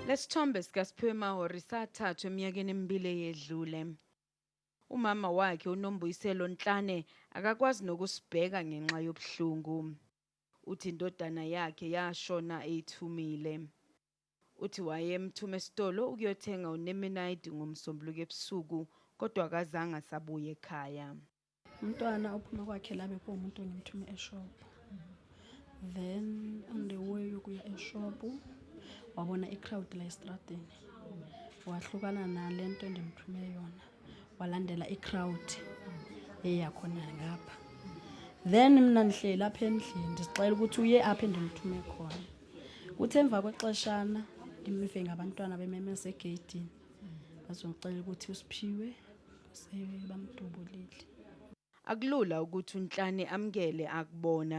Lesithombe sikaSiphiwe Mahori sathathwa eminyakeni emibili eyedlule. Umama wakhe uNombuyiselo Nhlane akakwazi nokusibheka ngenxa yobuhlungu. Uthi indodana yakhe yashona eyithumile. Uthi wayemthuma esitolo ukuyothenga unemenayidi ngoMsombuluko ebusuku kodwa akazange asabuya ekhaya. Umntwana uphuma kwakhe la bekuwumuntu engimthume eshophu. Then on the way yokuya eshophu wabona i-crowd la esitradini. Wahlukana nale nto endimthume yona. walandela i-crowd eya khona ngapha then mina ngihleli apha endlini ndizixela ukuthi uye apha endimthume khona kuthi emva kwexeshana ngimive ngabantwana bememeza egeyidini bazongicela ukuthi usiphiwe sebamdubulile akulula ukuthi unhlane amkele akubona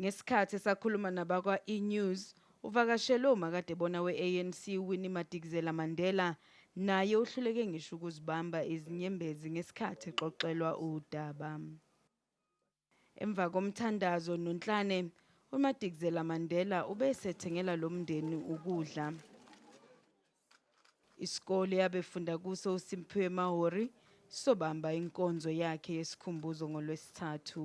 Ngesikhathi esakhuluma nabakwa-eNews, uvakashelwe umakadebona we-ANC uWinnie Madikizela-Mandela, naye uhluleke ngisho ukuzibamba izinyembezi ngesikhathi exoxelwa udaba. Emva komthandazo nonhlane, uMadikizela-Mandela ube esethengela lo mndeni ukudla. Isikole abefunda kuso uSimphiwe Mahori sobamba inkonzo yakhe yesikhumbuzo ngoLwesithathu.